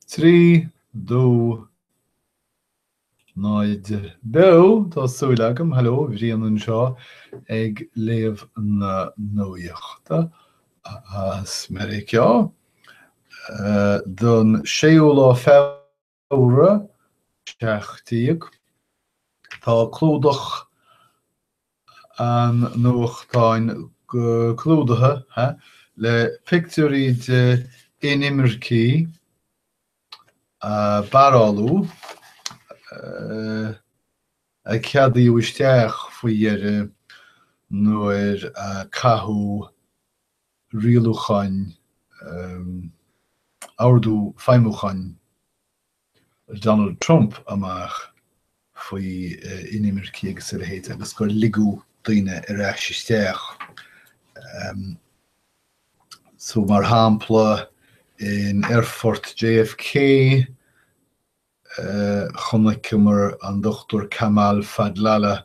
Trí dó náid beo, tá súil agam. Hello, Brian anseo ag léamh na nuachta as Meiriceá. Don séú lá. Feabhra seacht déag, tá clúdach an nuachtáin clúdaithe le pictiúirí de inimircigh á bparáileáil, a ceadaíodh isteach faoi dheireadh nuair a caitheadh rialúcháin, ordú feidhmiúcháin Donald Trump amach faoi inimircigh agus a leithéid agus gur ligeadh daoine ar ais isteach. So, mar shampla, in aerfort JFK, chonaiceamar an Dr Kamal Fadlallah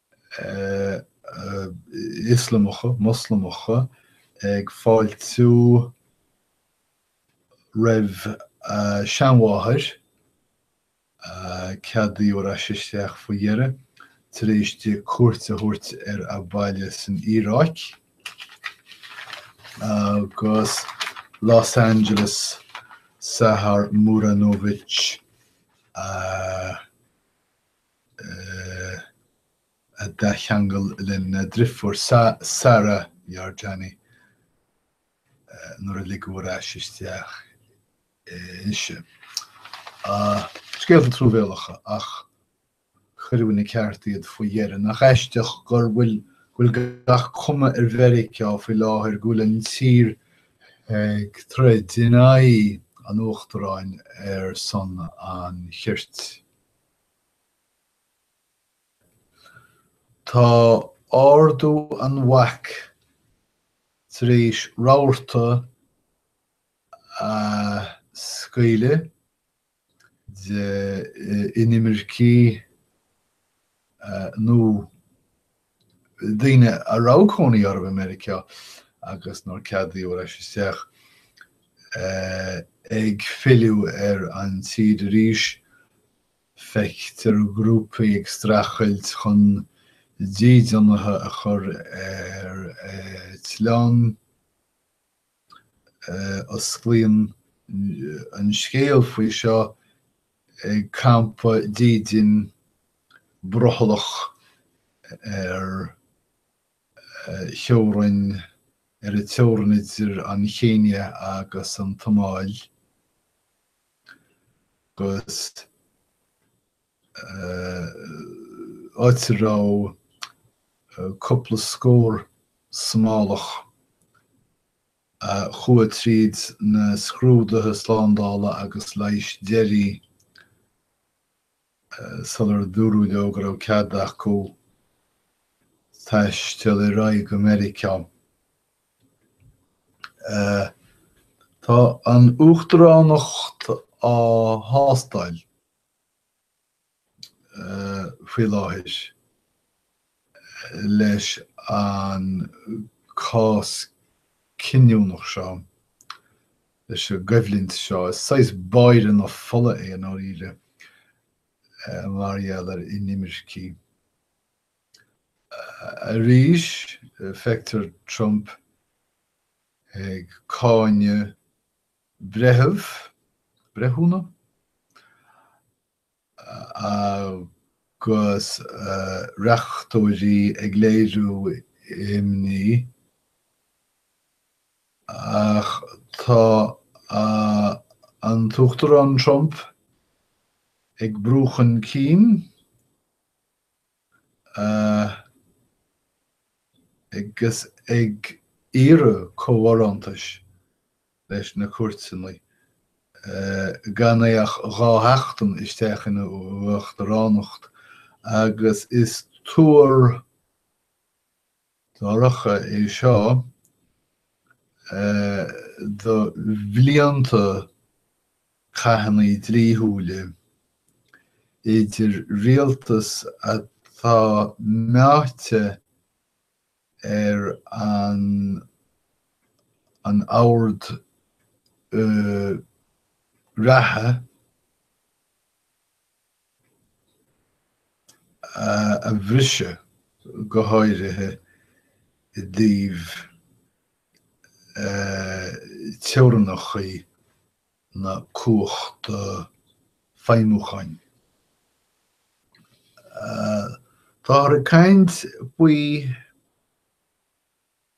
Ioslamacha, Moslamacha ag fáiltiú roimh a seanmháthair, a ceadaíodh ar ais isteach faoi dheireadh, tar éis di cuairt a thabhairt ar a baile san Iaráic, agus i Los Angeles, Sahar Muranovic a. a d'athcheangail lena drifiúr Sara Yarjani nuair a ligeadh ar ais isteach ise. Scéalta truamhéalacha, ach cuireadh ina ceart iad faoi dheireadh. Nach aisteach go bhfuil gach cuma ar Mheiriceá faoi láthair go bhfuil an tír ag troid in aghaidh an uachtaráin ar son an chirt. Tá ardú an bhaic tar éis rabharta a scaoileadh de inimircigh nó. daoine a raibh cónaí orthu i Meiriceá agus nár ceadaíodh ar ais isteach, ag filleadh ar an tír arís. Feictear grúpaí ag streachailt chun dídeanaithe a chur ar eitleán. Osclaíonn an scéal faoi seo ag campa dídin brothallach ar theorainn, ar an teorainn idir an Chéinia agus an tSomáil, agus. áit a raibh cúpla scór Somálach a chuaigh tríd na scrúduithe slándála agus leighis deiridh sular dúradh leo go raibh cead acu taisteal ar aghaidh go Meiriceá. Tá an uachtaránacht á thástáil. faoi láthair leis an cás cinniúnach seo, leis an gcoimhlint seo. Is saghas báire na fola é, i ndáiríre, mar gheall ar inimircigh. Arís, feictear Trump ag cáineadh. breitheamh, breithiúna agus reachtóirí ag léiriú imní, ach tá an tUachtarán Trump ag brú chun cinn, agus ag iarraidh comhbharántais leis na cúirteannaí, gan é ach dhá sheachtain isteach ina uachtaránacht, agus is tuar. Dorcha é seo do bhlianta cathannaí dlíthiúla idir rialtas atá meáite ar an an ord reatha, a bhriseadh, go háirithe i dtaobh teorainneachaí na cumhachta feidhmiúcháin. Táthar ag caint faoi.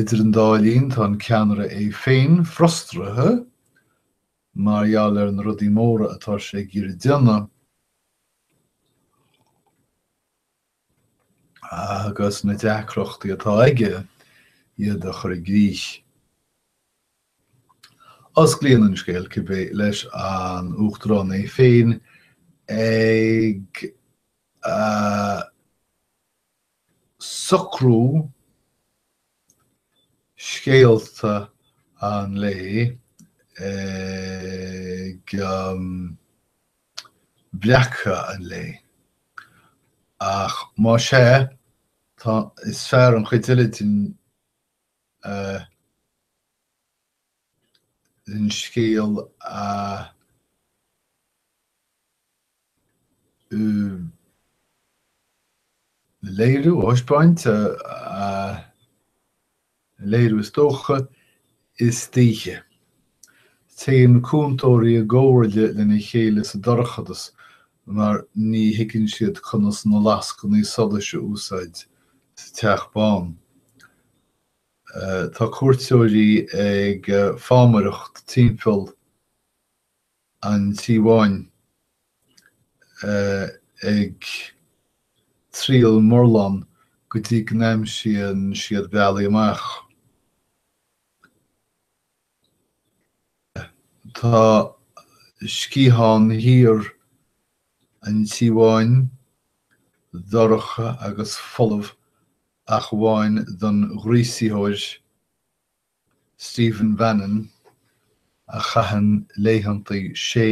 Idir an dá linn, tá an ceannaire é féin frustraithe mar gheall ar na rudaí móra atá sé ag iarraidh a dhéanamh, agus na deacrachtaí atá aige iad a chur i gcrích. Osclaíonn an scéal, cibé, leis an Uachtarán é féin ag. socrú scéalta an lae ag breacadh an lae. Ach más ea, is fearr an chuid eile den scéal a. léiriú, a thaispeáint, a léiriú is dócha, istoíche. Téann cúntóirí i gcomhairle lena chéile sa dorchadas mar ní thuigeann siad conas na lascainí solais a úsáid sa teach bán. Tá cuairteoirí ag fámaireacht timpeall an Tí Bháin ag triail murlán go dtí go n-aimsíonn siad bealaí amach. Tá sciathán thiar an Tí Bháin dorcha agus folamh ach amháin don ghríosaitheoir. Stephen Bannon, a chaitheann laethanta sé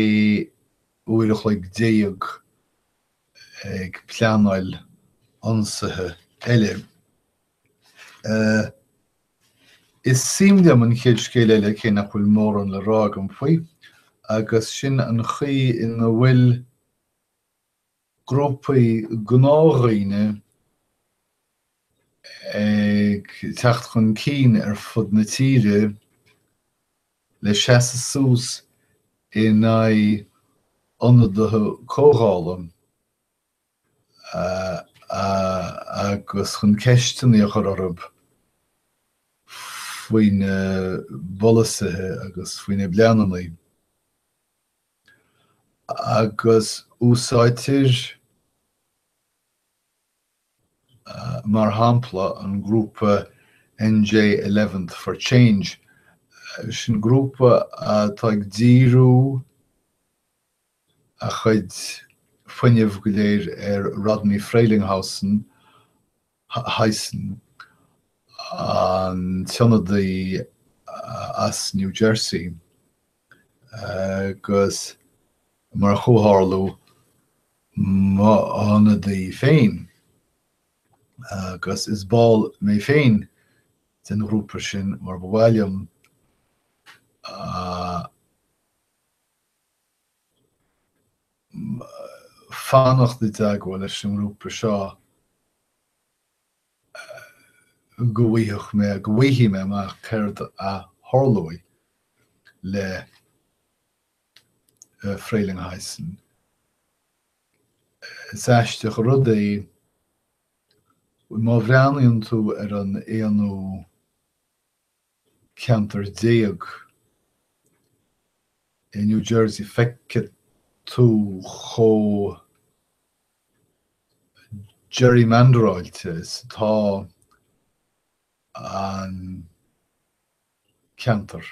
uair a chloig déag ag pleanáil ionsaithe eile. Is suim liom an chéad scéal eile, cé nach bhfuil mórán le rá agam faoi, agus sin an chaoi ina bhfuil. grúpaí gnáthdhaoine ag teacht chun cinn ar fud na tíre le seasamh suas in aghaidh ionadaithe comhdhála agus chun ceisteanna a chur orthu faoina bpolasaithe agus faoina bpleananna. agus úsáidtear mar shampla an grúpa NJ Eleventh for Change, sin grúpa atá ag díriú a chuid fuinnimh go léir ar Rodney Frelinghuysen, huysen, an t-ionadaí as New Jersey agus mar a chomhtharlú m'ionadaí féin, agus is ball mé féin den ghrúpa sin mar ba mhaith liom fanacht i dteagmháil leis an ngrúpa seo go bhfaigheadh mé, go bhfaighidh mé amach céard a tharlóidh le Frelinghuysen. Is aisteach an rud é, má bhreathnaíonn tú ar an aonú ceantar déag i New Jersey, feicfidh tú chomh gerrymanderáilte is atá an ceantar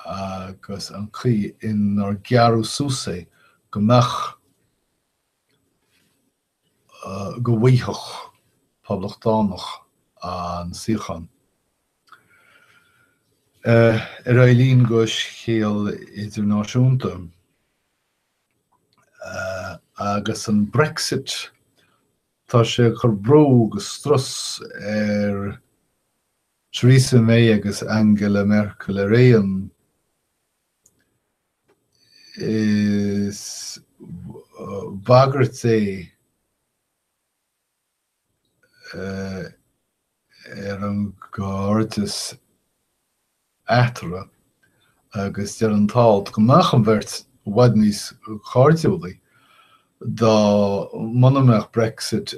agus an chaoi inar gearradh suas é go mbeadh go bhfaigheadh poblachtánach an suíochán. Ar aghaidh linn go scéal idirnáisiúnta agus an Brexit. Tá sé ag cur brú agus strus ar Theresa May agus Angela Merkel araon, Is bagairt é ar an gcairdeas eatarthu agus deir an t-alt go mbeadh an bheirt i bhfad níos cairdiúlaí dá muna mbeadh Brexit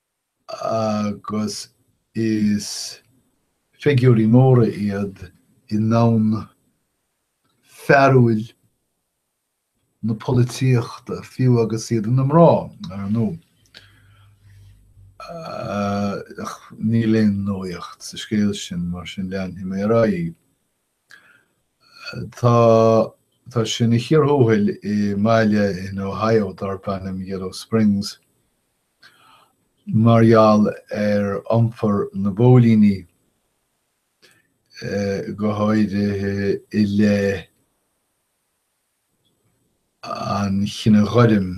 agus is figiúirí móra iad i ndomhan fearúil na polaitíochta, fiú agus iad ina mná, ar ndóigh. Ach níl aon nuaíocht sa scéal sin, mar sin leanfaidh mé ar aghaidh. Tá tá sé ina chíor thuathail i mbaile in Ohio darb ainm Yellow Springs mar gheall ar iompar na bpóilíní, go háirithe i leith an chine ghoirm.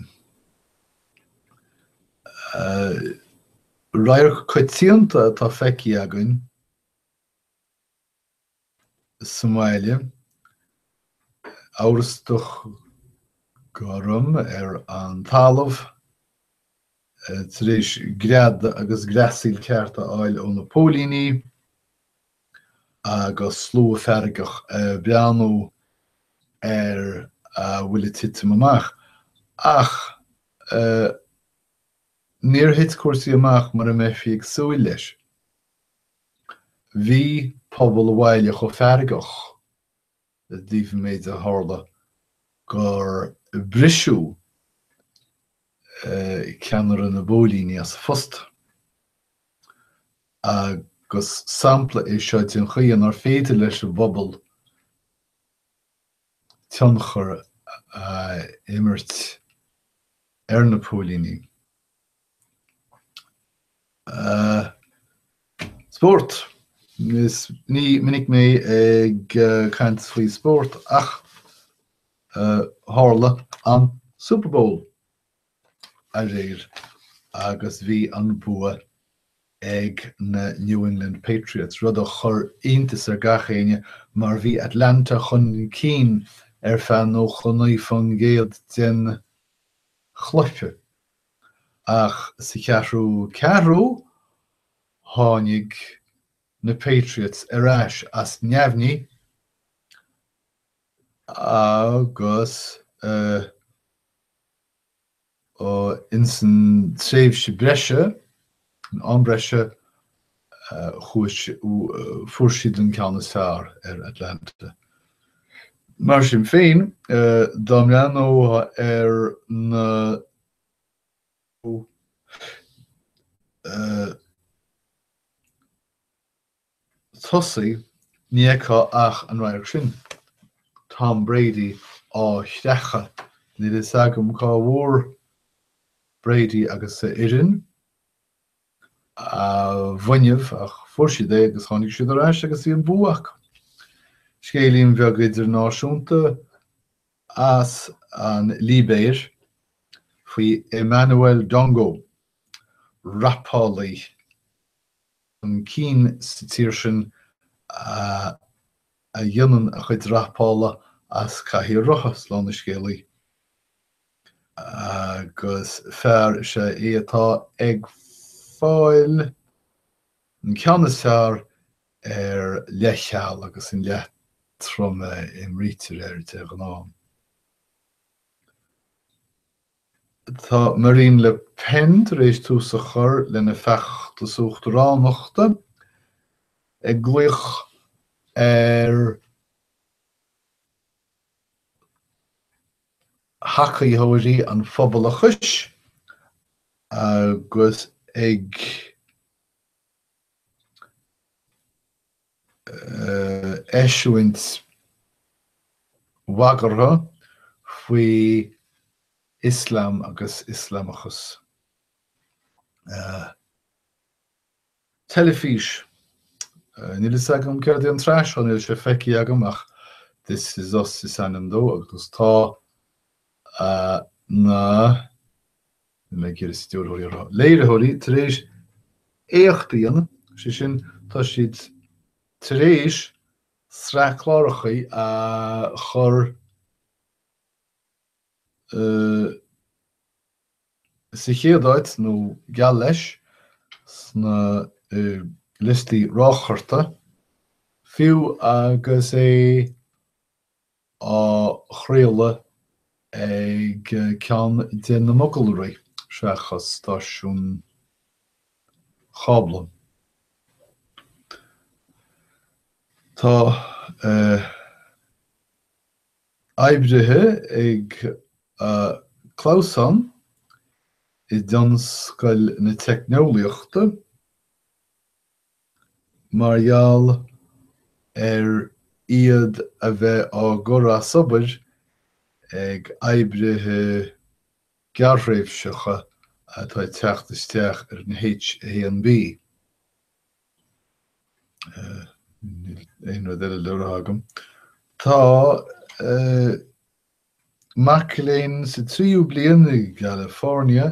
Radharc coitianta atá feicthe againn. sa mbaile, amhrastach gorm ar an talamh tar éis greadadh agus greasaíl ceart a fháil ó na póilíní agus slua feargach ag breathnú ar a bhfuil ag titim amach. Ach níor thit cúrsaí amach mar a bheifí ag súil leis. Bhí pobal an bhaile chomh feargach i dtaobh an méid a tharla gur briseadh ceannaire na bpóilíní as a phost, agus sampla é seo den chaoi inar féidir leis an bpobal tionchar a imirt ar na póilíní. Spórt Ní minic mé ag caint faoi spórt ach tharla an Superbowl aréir agus bhí an bua ag na New England Patriots, rud a chuir iontas ar gach éinne mar bhí Atlanta chun cinn ar feadh 99% den chluiche. Ach sa cheathrú ceathrú, tháinig na Patriots ar ais as neamhní agus insan tréimhse breise, An breise, fuair siad an ceann is fearr ar Atlanta. Mar sin féin, dá mbreathnófá ar na tosaigh, ní fheicfeá ach an radharc sin, Tom Brady á chreachadh. Níl a fhios agam cá bhfuair Brady agus a fhoireann a bhfuinneamh ach fuair siad é agus tháinig siad ar ais agus bhí an bua acu. Scéilín bheag idirnáisiúnta as an Libéir faoi Emmanuel Dongó, rapálaí. chun cinn sa tír sin a dhéanann a chuid rapála as cathaoir rotha slán an scéalaí, agus fear is ea é atá ag fáil an ceann is fearr ar leithcheal agus an leatrom a imrítear air de ghnáth. Tá Marine Le Pen tar éis tús a chur lena feachtas uachtaránachta, ag glaoch ar thacaítheoirí an phobalachais agus ag. eisiúint bagartha faoi Ioslam agus Ioslamachas. teilifís. Níl a fhios agam céard í an tsraith, níl, níl sé feicthe agam ach This is Us is ainm dó agus tá na. Níor cheart stiúrthóirí a rá. Léiritheoirí tar éis éacht a dhéanamh, sé sin, tá siad tar éis sraith cláracha a chur sa chéad áit, nó geall leis, sna liostaí rátála, fiú agus é. á chraoladh ag cheann de na mogalraí, seachas stáisiún cábla. Tá oibrithe ag clamhsán i dtionscal na teicneolaíochta, mar gheall ar iad a bheith á gcur as obair ag oibrithe gearrthréimhseacha atá ag teacht isteach ar an H1B. Aon rud eile le rá agam. Tá mac léinn sa tríú bliain i gCalifornia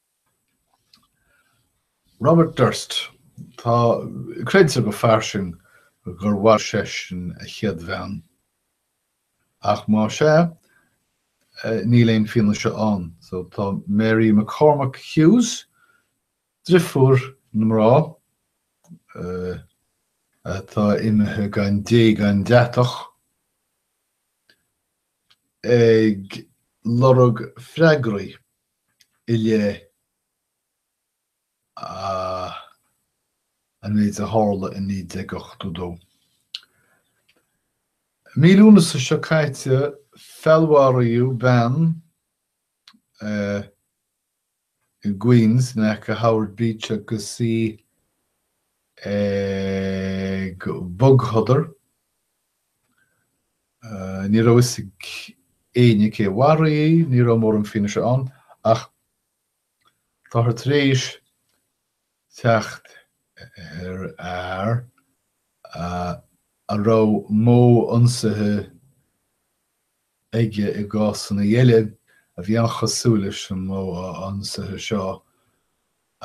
Robert Durst, tá creidtear go fairsing gur mharaigh seisean a chéad bhean, ach más ea, níl aon fianaise ann. So tá Mary McCormack Hughes, driofúr na mná atá imithe gan dé gan deatach, ag lorg freagraí. i leith an méid a tharla i 1982. Mí Lúnasa seo caite feallmharaíodh bean i gQueens in aice Howard Beach agus í ag bogshodar. Ní raibh fhios ag éinne cé a mharaigh í, ní raibh mórán fianaise ann, ach táthar tar éis teacht ar fhear a raibh modh ionsaithe aige i gcásanna eile a bhí an-chosúil leis an modh ionsaithe seo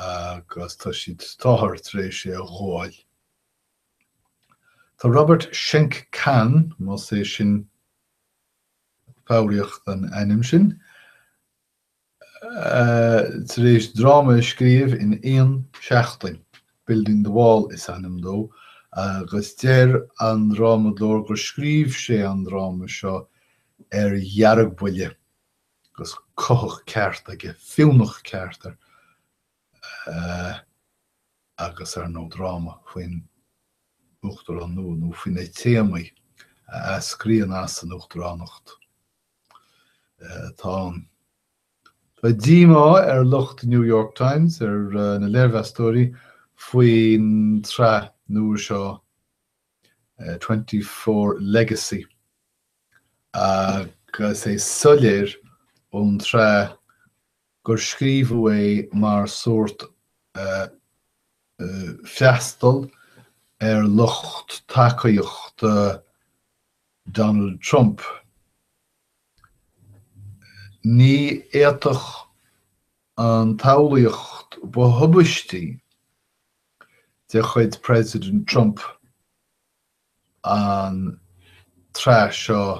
agus tá siad, táthar, tar éis é a ghabháil. Tá Robert Schenkkan, más é sin foghraíocht an ainm sin, tar éis dráma a scríobh in aon seachtain. Building the Wall is ainm dó agus deir an drámadóir gur scríobh sé an dráma seo ar dheargbhuile, agus cuthach ceart air, fiúnach ceart air. agus, ar ndóigh, dráma faoin uachtarán nua, nó faoi na téamaí a eascraíonn as an uachtaránacht, atá ann. Tá díomá ar lucht New York Times, ar na léirmheastóirí, faoin tsraith nua seo Twenty Four Legacy agus é soiléir ón tsraith gur scríobhadh é mar sórt freastal ar lucht tacaíochta Donald Trump. Ní fhéadfadh an tsamhlaíocht ba thubaistí de chuid President Trump an tsraith seo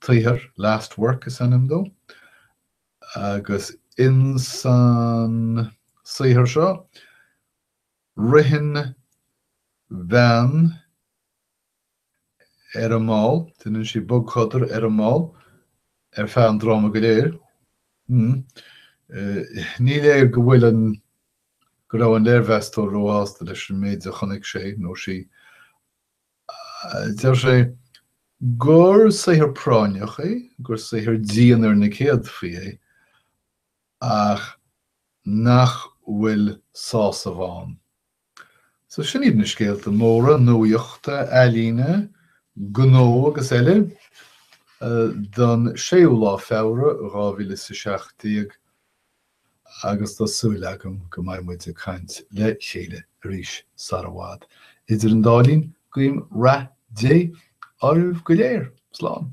tsaothair, Last Work is ainm dó, agus insan saothar seo ritheann bean ar an mball, déanann sí bogshodar ar an mball ar feadh an dráma go léir. Ní léir go bhfuil an, go raibh an léirmheastóir róshásta leis an méid a chonaic sé nó sí Deir sé gur saothar práinneach é, gur saothar dian ar na céadfaí é, ach nach bhfuil sásamh ann. So sin iad na scéalta móra nuaíochta, ealaíne, gnó agus eile don séú lá Feabhra, dhá mhíle is a seacht déag. agus tá súil agam go mbeidh muid ag caint le chéile arís sara i bhfad. Idir an dá linn, guím rath Dé oraibh go léir. Slán.